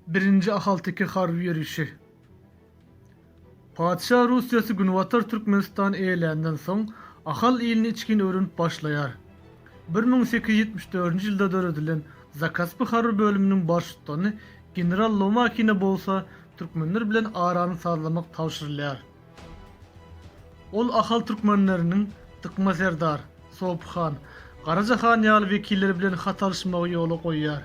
Birinji ahalteke harby ýörişi. Patyşa Russiýasy Günbatar Türkmenistany eýeländen soň, Ahal ilini içgin öwrenip başlaýar. Bir müň sekiz ýüz ýetmiş dördünji ýylda döredilen Zakaspy harby bölüminiň baştutany general Lomakine bolsa türkmenler bilen arany sazlamak tabşyrylýar. Ol Ahal türkmenleriniň Dykma serdar, Sopy han, Garaja han ýaly wekilleri bilen hat alyşmagy ýola goýýar.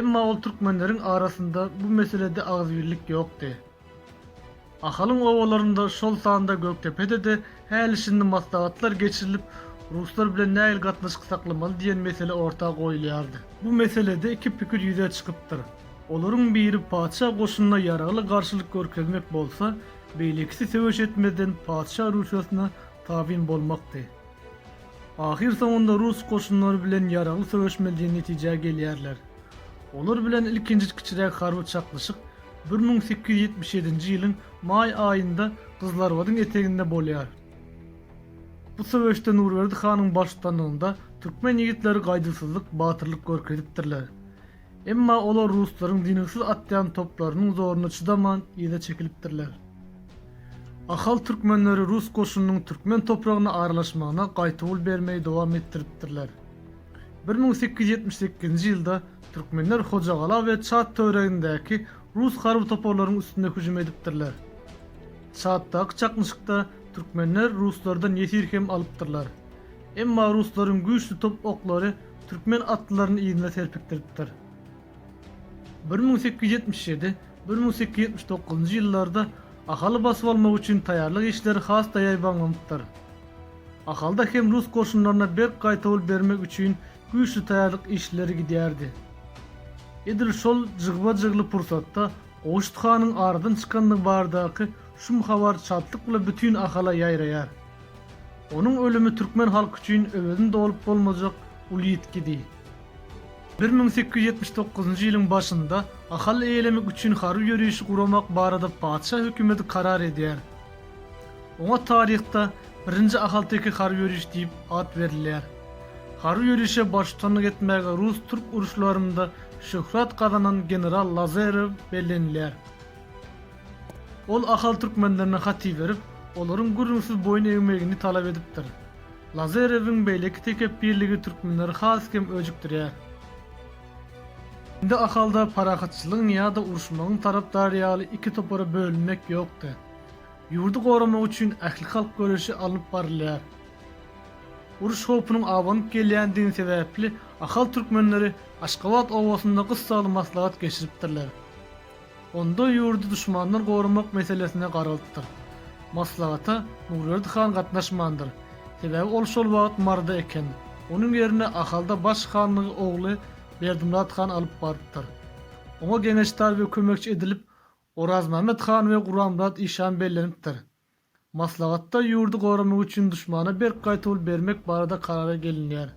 Emma ol türkmenleriň arasynda bu meselede agzybirlik ýokdy. Ahalyň obalarynda, şol sanda Gökdepede-de Häli-şindi maslahatlar geçirilip, ruslar bilen nähili gatnaşyk saklamaly diýen mesele orta goýulýardy. Bu meselede iki pikir ýüze çykypdyr. Olaryň biri patyşa goşunyna ýaragly garşylyk görkezmek bolsa, beýlekisi söweş etmezden patyşa Rusiýasyna tabyn bolmakdy. Ahyrsoňunda rus goşunlary bilen ýaragly söweşmeli diýen netijä gelýärler. Olar bilen ilkinji kiçiräk harby çaknyşyk Bir müň sekiz ýüz ýetmiş ýedinji ýylyň maý aýynda Gyzlarbadyň eteginde bolýar. Bu söweşde Nurberdi hanyň baştutanlygynda türkmen ýigitleri gaýduwsyzlyk, batyrlyk görkezipdirler. Emma olar ruslaryň dyngysyz atýan toplarynyň zoruna çydaman, yza çekilipdirler. Ahal türkmenleri rus goşunynyň türkmen topragyna aralaşmagyna gaýtawul bermegi dowam etdiripdirler. Bir müň sekiz ýüz ýetmiş sekizinji ýylda türkmenler Hojagala we Çad töweregindäki rus harby toparlarynyň üstüne hüjüm edipdirler. Çaddaky çaknyşykda türkmenler ruslardan ýesir hem alypdyrlar. Emma ruslaryň güýçli top oklary türkmen atlylaryny yzyna serpikdiripdir. Bir müň sekiz ýüz ýetmiş ýedi, bir müň sekiz ýüz ýetmiş dokuzynjy ýyllarda Ahaly basyp almak üçin taýýarlyk işleri has-da ýaýbaňlanypdyr. Ahalda hem rus goşunlaryna berk gaýtawul bermek üçin güýçli taýýarlyk işleri gidýärdi. Edil şol jygba-jygly pursatda Gowşut hanyň aradan çykandygy baradaky şum habar çatlyk bilen bütin Ahala ýaýraýar. Onuň ölümi türkmen halky üçin öwezini dolup bolmajak uly ýitgidi. Bir müň sekiz ýüz ýetmiş dokuzynjy ýylyň başynda Ahal eýelemek üçin harby ýörişi guramak barada patyşa hökümeti karar edýär. Oňa taryhda Birinji ahalteke harby ýörişi diýip at berilýär. Harby ýörişe baştutanlyk etmäge rus-türk uruşlarynda şöhrat gazanan general Lazarew bellenilýär. Ol ahal türkmenlerine hat iberip, olaryň gürrüňsiz boýun egmegini talap edipdir. Lazarewiň beýleki tekepbirligi türkmenleri has hem öjükdirýär. Indi Ahalda parahatçylygyň ýa-da uruşmagyň tarapdary ýaly iki topara bölünmek ýokdy. Ýurdy goramak üçin ählihalk göreşi alnyp barylýar. Uruş howpunyň abanyp gelýändigi sebäpli ahal türkmenleri Aşgabat obasynda gyssaly maslahat geçiripdirler. Onda ýurdy duşmandan goramak meselesine garalypdyr. Maslahata Nurberdi han gatnaşmandyr. Sebäbi ol şol wagt Maryda eken. Onuň ýerine Ahalda baş hanlygy ogly Berdimyrat han alyp barypdyr. Oňa geňeşdar we kömekçi edilip Orazmämmet han we Guranmyrat işan bellenipdir. Maslahatda ýurdy goramak üçin duşmana berk gaýtawul bermek barada karara gelinýär.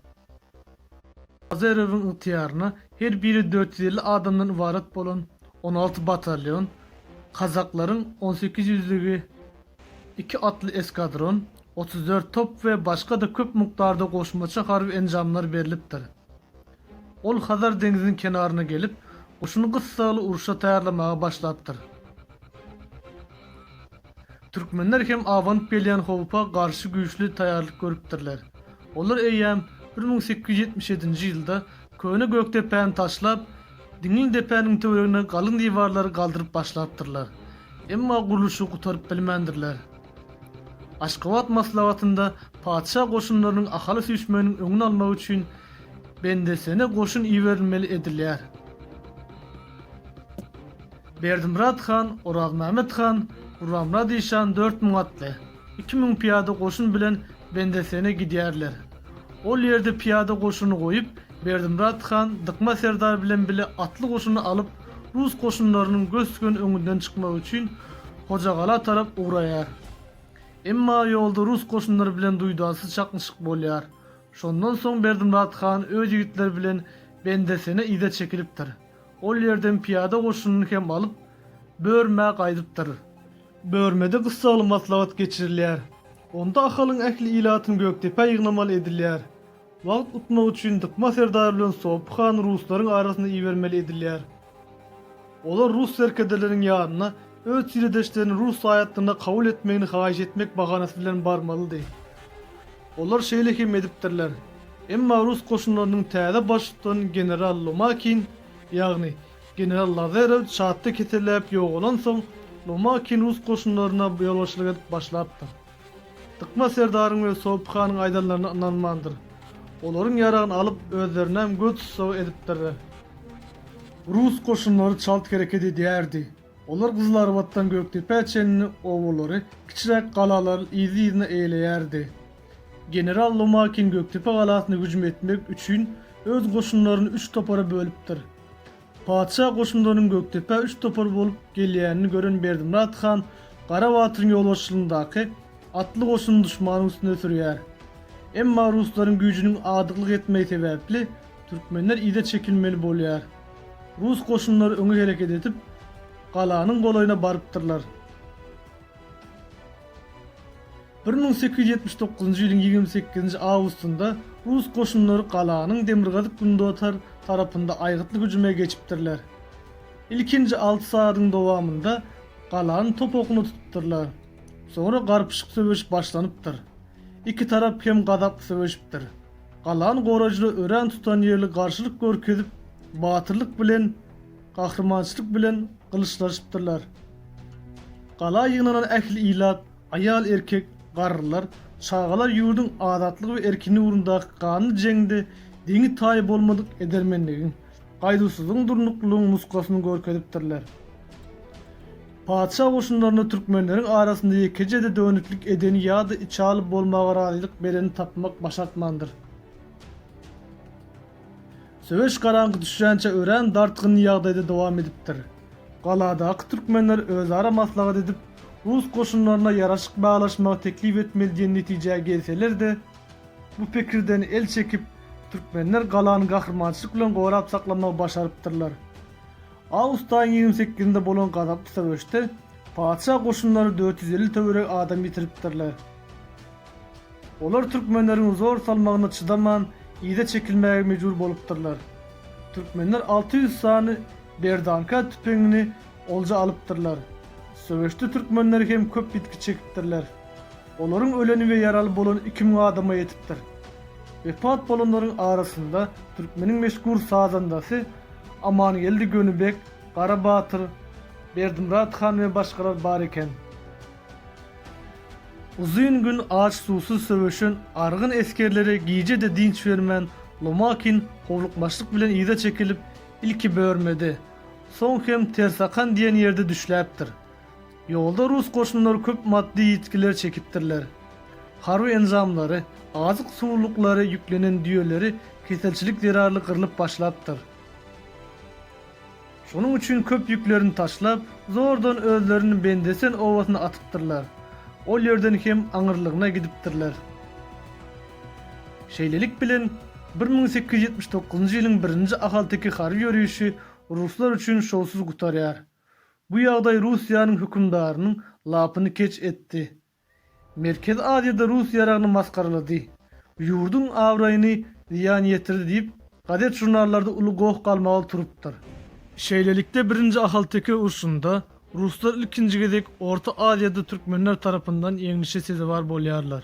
Azerowyň ygtyýaryna her biri dört ýüz elli adamdan ybarat bolan on alty batalýon, kazaklaryň on sekiz ýüzlügi, iki atly eskadron, otuz dört top we başga-da köp mukdarda goşmaça harby enjamlar berlipdir. Ol Hazar deňziniň kenaryna gelip, guşuny gyssagly urşa taýýarlamaga başlapdyr. Türkmenler hem abanyp gelýän howpa garşy güýçli taýýarlyk görüpdirler. Olar eýýäm bir müň sekiz ýüz ýetmiş ýedinji ýylda köne Gökdepäni taşlap, Diňli depäniň töweregine galyň diwarlary galdyryp başlapdyrlar. Emma gurluşygy gutaryp bilmändirler. Aşgabat maslahatynda patyşa goşunlarynyň Ahala süýşmeginiň öňüni almak üçin Bendesene goşun iberilmeli edilýär. Berdimyrat han, Orazmämet han, Gurbanmyrat işan dört müň atly, iki müň pyýada goşun bilen Bendesene gidýärler. Ol ýerde pyýada goşuny goýup, Berdimyrat han Dykma serdar bilen bile atly goşuny alyp, rus goşunlarynyň gös-göni öňünden çykmagy üçin Hojagala tarap ugraýar. Emma ýolda rus goşunlary bilen duýdansyz çaknyşyk bolýar. Şondan soň Berdimyrat han öz ýigitleri bilen Bendesene yza çekilipdir. Ol ýerden pyýada goşunyny hem alyp, Börmä gaýdypdyr. Börmede gyssagly maslahat geçirilýär. Onda Ahalyň ähli ilatyny Gökdepä ýygnamaly edilýär. Wagt utmak üçin Dykma serdary bilen Sopy hany ruslaryň arasyna ibermeli edilýär. Olar rus serkerdeleriniň ýanyna öz tiredeşlerini rus raýatlygyna kabul etmegini haýyş etmek bahanasy bilen barmalydy. Olar şeýle hem edipdirler. Emma rus goşunlarynyň täze baştutan general Lomakin, ýagny general Lazarew çatda keselläp ýogalansoň, Lomakin rus goşunlaryna ýolbaşçylyk edip başlapdyr. Dykma serdaryň we Sopy hanyň aýdanlaryna ynanmandyr. Olaryň ýaragyny alyp, özlerinem göz tussagy edipdirler. Rus goşunlary çalt hereket edýärdi. Olar Gyzylarbatdan Gökdepä çenli obalary, kiçiräk galalary yzly-yzyna eýeleýärdi. General Lomakin Gökdepe galasyna hüjüm etmek üçin öz goşunlaryny üç topara bölüpdir. Patyşa goşunlarynyň Gökdepä üç topar bolup gelýänini gören Berdimyrat han Gara batyryň ýolbaşçylygyndaky atly goşunyny duşmanyň üstüne sürýär. Emma ruslaryň güýjüniň adyklyk etmegi sebäpli türkmenler yza çekilmeli bolýar. Rus goşunlary öňe hereket edip, galanyň golaýyna barypdyrlar. Bir müň sekiz ýüz ýetmiş dokuzynjy ýylyň ýigrimi sekizinji awgustynda rus goşunlary galanyň demirgazyk-gündotar tarapynda aýgytly hüjüme geçipdirler. Ilkinji alty sagadyň dowamynda galany top okuna tutupdyrlar. Soňra garpyşyk söweş başlanypdyr. Iki tarap hem gazaply söweşipdir. Galany goraýjylar örän tutan ýerli garşylyk görkezip, batyrlyk bilen, gahrymançylyk bilen gylyçlaşypdyrlar. Gala ýygnanan ähli ilat, Aýal, erkek, garrylar, çagalar ýurduň azatlygy we erkinligi ugrundaky ganly jeňde deňi-taýy bolmadyk edermenligiň, gaýduwsyzlygyň, durnuklylygyň nuskasyny görkezipdirler. Patyşa goşunlarynda türkmenleriň arasynda ýekeje-de dönüklik edeni ýa-da içaly bolmaga razylyk bereni tapmak başartmandyr. Söweş garaňky düşýänçä örän dartgyn ýagdaýda dowam edipdir. Galadaky türkmenler özara maslahat edip, rus goşunlaryna ýaraşyk baglaşmagy teklip etmeli diýen netijä gelseler-de, bu pikirden el çekip, türkmenler galany gahrymançylyk bilen gorap saklamagy başarypdyrlar. Awgustaýyň ýigrimi sekizinde bolan gazaply söweşde patyşa goşunlary dört ýüz elli töweregi adam ýitiripdirler. Olar türkmenleriň zor salmagyna çydaman, yza çekilmäge mejbur bolupdyrlar. Türkmenler alty ýüz sany berdanka tüpeňini olja alypdyrlar. Söweşde türkmenler hem köp ýitgi çekipdirler. Olaryň öleni we ýaraly bolany iki müň adama ýetipdir. Wepat bolanlaryň arasynda türkmeniň meşhur sazandasy Amangeldi Gönübek, Gara batyr, Berdimyrat han we başgalar bar eken. Uzyn gün aç-suwsuz söweşen argyn esgerlere gije-de dynç bermän, Lomakin howlukmaçlyk bilen yza çekilip, ilki Börmede, soň hem Tersakan diýen ýerde düşläpdir. Ýolda rus goşunlary köp maddy ýitgiler çekipdirler. Harby enjamlary, azyk-suwluklary ýüklenen düýeleri keselçilik zerarly gyrlyp başlapdyr. Şonuň üçin köp ýüklerini taşlap, zordan özlerini Bendesen obasyna atypdyrlar. Ol ýerden hem aňyrlygyna gidipdirler. Şeýlelik bilen, bir müň sekiz ýüz ýetmiş dokuzynjy ýylyň birinji ahalteke harby ýörişi ruslar üçin şowsuz gutarýar. Bu ýagdaý Russiýanyň hökümdarynyň lapyny keç etdi. Merkezi Aziýada rus ýaragyny masgaralady, ýurduň abraýyny zyýan ýetirdi diýip, gazet-žurnallarda uly goh galmagal turupdyr. Şeýlelikde Birinji Ahalteke urşunda ruslar ilkinji gezek Orta Aziýada türkmenler tarapyndan ýeňlişe sezewar bolýarlar.